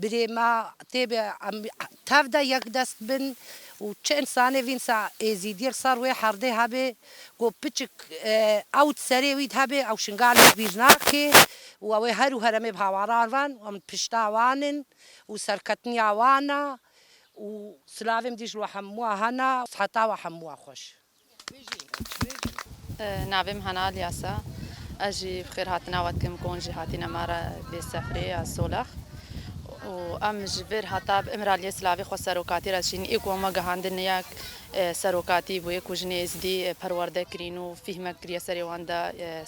Birê me tê bi em tev de yek dest bin û çi însanê vînsa Êzîdiyê li ser wê herdê hebê ku piçik ew di serê wî de hebê ew şingalek bîr nake û ew ê her û heremê bi hawaran ran û em di pişta wan in û serketiniya wan e û silavê min dî ji we hemû a hene. Siheta we hemû a xweş. Navê min Hana Alyas e. Ez jî bi xêrhatina we dikim ku hûn jî hatîne me re vê sefrê ya Solex û em ji vir heta bi Îmraliyê silavê xwe serokatî re dişînin. Ê ku hema gihandin ne ya serokatî bû, ê ku jinê Êzidî perwerde kirîn û fîhmek kiriye serê wan de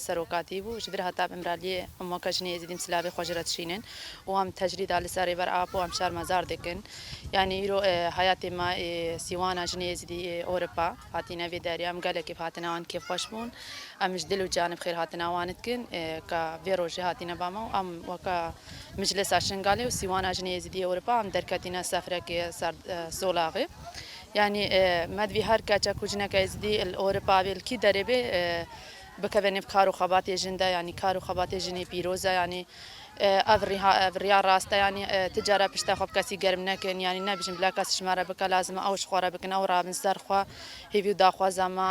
serokatî bû. Ji vir heta bi Îmraliyê hemû ke jinê Êzidî em silavê xwe ji re dişînin û em tecrîda li ser Rêber Apo em şermezar dikin. Yanî îro heyatê me ê sîwan a jinê êzidî ê Ewropa hatîne vê derya. Em gelekî bi hatina wan kêfxweş bûn. Em ji dil û canê bi xêr hatina wan dikin ka vê rojê hatîne ba me û em weke Miclisa Şingalê û sîwan a jinê êzidî ê Ewropa em derketîne sefrekê ser solaxê. Yanî me divî her keç e ku jineke êzidî li Ewropa bê li kî derê bê bikeve nêv kar û xebatê jin de. Yanî kar û xebatê jinê pîroz e. Yanî Ev riha ev riya rast e yanî ti care pişta xwe bi kesî germ nekin yanî nebijin bila kes ji me re bike lazim e ew ji xwe re bikin ew rabin ser xwe hêvî û daxwaza me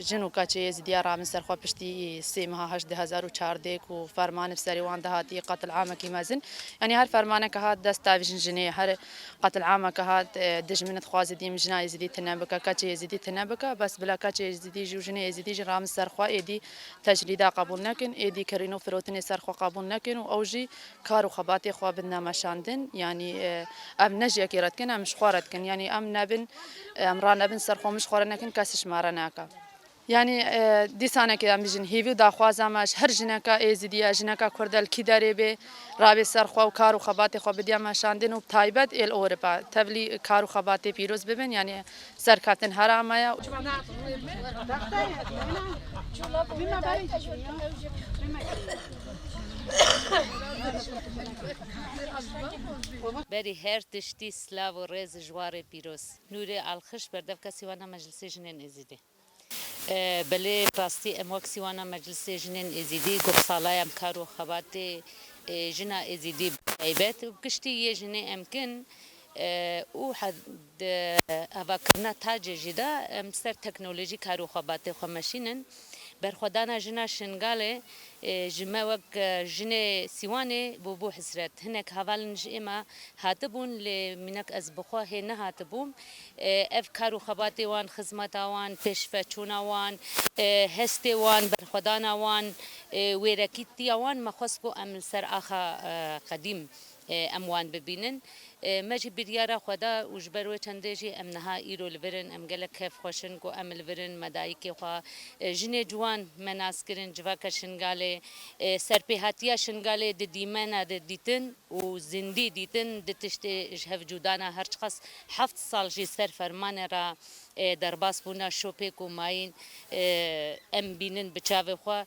jin û keçê êzidiya rabin ser xwe piştî sê meha heşt di hezar û çardê ku fermanê bi serê wan de hatiye qetil amekî mezin yanî her fermaneke hat dest davijin jinê her qetil ameke hat dijmin dixwaze dîm jina êzidî tune bike keçê êzidî tune bike bes bila keçê êzidî jî û jinê êzidî jî rabin ser xwe êdî tecrîda qebûl nekin, êdî kirîn û firotinê ser xwe qebûl nekin û ew jî kar û xebatê xwe bin ne meşandin. Yanî em ne ji yekê re dikin, em ji xwe re dikin. Yanî em nebin, em ranebin ser xwe, min ji xwe re nekin, kes ji me re neke. Yanî dîsanekê em bijîn hîvî û daxwaza me ji her jineka Êzidî ye, jineka Kurd e li kî derê bê, rabê ser xwe û kar û xebatê xwe bidya meşandin û bi taybet ê li Ewropa tevlî kar û xebatê pîroz bibin. Yanî Serkatên Herama ya. Berî her tiştî silav û rêz ji warê pîroz. Nûrê Alxiş berdevka Sîwana Meclisê Jinên Êzidî. Belê bi rastî em wek sîwana Meclisê Jinên Êzîdî goh sala ya kar û xebatê jina Êzîdî bi taybet û bi giştî yê jinê em kin û di avakirina tacê jî de em ser teknolojî kar û xebatê xwe meşînin. Berxwedana jina Şingalê ji me wek jinê sîwanê bû bû hisret. Hinek havalên ji êma hatibûn lê mînak ez bi xwe hê nehatibûm. Ev kar û xebatê wan, xizmeta wan, pêşveçûna wan, hestê wan, berxwedana wan, wêrekîtiya wan me xwest ku em li ser axa qedîm em wan bibînin. Me jî biryara xwe da û ji ber wê çendê jî em niha îro li vir in. Em gelek kêfxweş in ku em li vir in, me dayikê xwe, jinê ciwan me nas kirin, civaka Şingalê. Serpêhatiya Şingalê di dîmena de dîtin û zindî dîtin, di tiştê ji hev cûdana her çiqas Heft sal jî ser fermanê re derbas bûne şopê ku mayîn em bînin bi çavê xwe.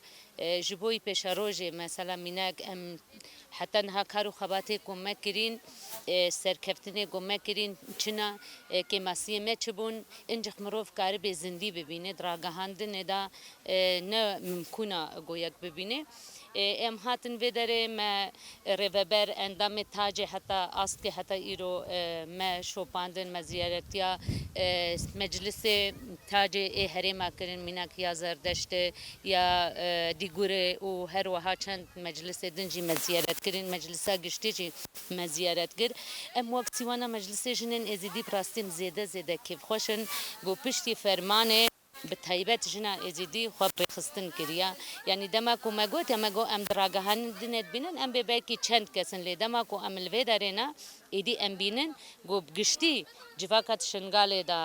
Ji bo wî pêşerojê mesela mînak em heta niha kar û xebatê ku me kirîn, serkeftinê ku me kirîn çi ne, kêmasiyê me çi bûn, încex mirov karibê zindî bibîne di ragihandinê de ne mimkûn e ku yek bibîne. Em hatin vê derê me rêveber endamê tacê heta astkê heta îro me şopandin me ziyaretiya meclisê tacê ê herêma kirin mînak ya zerdeştê ya dîgurê û her weha çend meclisê din jî me ziyaret kirin meclisa giştî jî me ziyaret kir em wek sîwana meclisê jinên êzidî bi rastî em zêde zêde kêfxweş in ku piştî fermanê Bi taybet jina Êzidî xwe pêxistin kiriye. Yanî dema ku me gotiye me got em di ragihandinê din ê dibînin em bê belkî çend kes in lê dema ku em li vê derê ne êdî em bînin ku bi giştî civaka di Şingalê de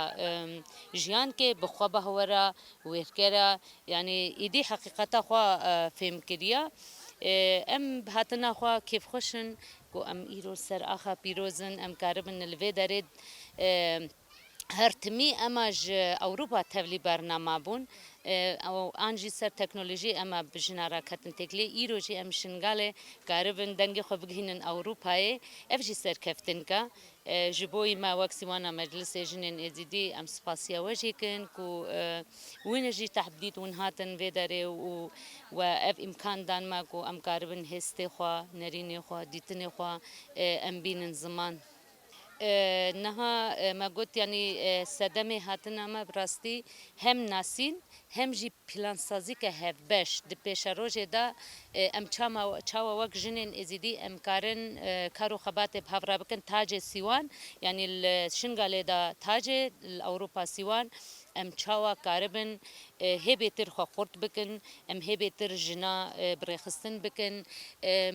jiyan dike bi xwe beh were wêrker e yanî êdî heqîqeta xwe fêm kiriye. Em bi hatina xwe kêfxweş in ku em îro li ser axa pîroz in em karibin li vê derê Her timî ema ji Ewropa tevlî bernama bûn û an jî ser teknolojî ema bi jina re ketin têkilê. Îro jî em Şingalê karibin dengê xwe bigihînin Ewropayê. Ev jî serkeftink e ji bo wî me wek Sîwana Meclisê Jinên Êzidî em spasiya we jî kin ku wîne jî tahb dît hûn hatin vê derê û we ev îmkan dan me ku em karibin hêstê xwe, nerînê xwe, dîtinê xwe em bînin ziman. Niha me got yanî sedemê hatina me bi rastî hem nasîn hem jî plansazîke hevbeş. Di pêşerojê de em çama çawa wek jinên Êzîdî em karin kar û xebatê bi hev re bikin tacê sîwan yanî li Şingalê de tacê li Ewropa sîwan Em çawa karibin hê bêtir xwe xurt bikin, em hê bêtir jina birêxistin bikin.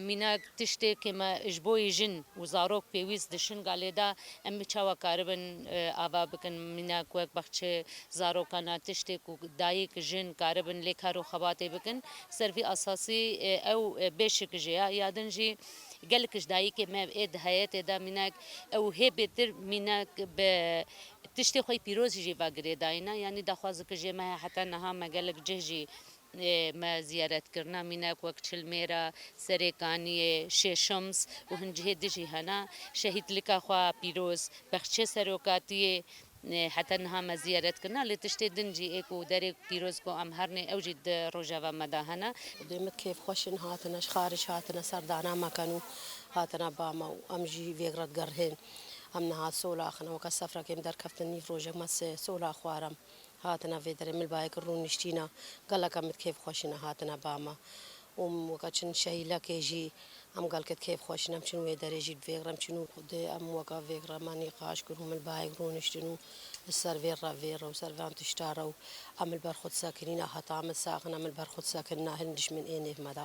Mîna tiştê ke me ji bo yê jin û zarok pêwîst dişin galê de, em çawa karibin ava bikin. Mîna ku wek baxçe zarokan a tiştê ku dayik, jin karibin lê kar û xebatê bikin. Ser vî esasî ew bêşik jê ya. Ya din jî gelek ji dayikê me ê di heyetê de mîna ew hê bêtir mîna bi Tiştê xwe pîroz jî va girêdayîna yanî daxwaz ki jê me he heta niha me gelek cih jî me ziyaret kirina mînek wek Çilmêra, Serê Kaniyê, Şêşims û hin cihê di jî hena. Şehîdlika xwe a pîroz, Bexçê Serokatiyê heta niha me ziyaret kirina lê tiştê din jî ê ku derê pîroz ku em hernê ew jî di rojeva me de hene. Dê me kêf xweş in hatine ji xarij hatine serdana me ken û hatine ba me û em jî vêg re digerihên. Em niha sol axin ewka sefra kêm derkeftin nîv rojek me si sola xwaram hatine vê derê mil bayek rûn niştîna geleka mit kêf xweşine hatine ba me û min weka çin şehîlekê jî em gelket kêf xweşin em çin wê derê jî vêxre em çin û xwedê em weka vêxre me nîqaş kir û mil bayek rûn niştin û li ser vê re vê re û ser van tişta re û em li ber xwe disekinîna heta em disaxin em li ber xwe disekinina hin dişmin ê nêv me da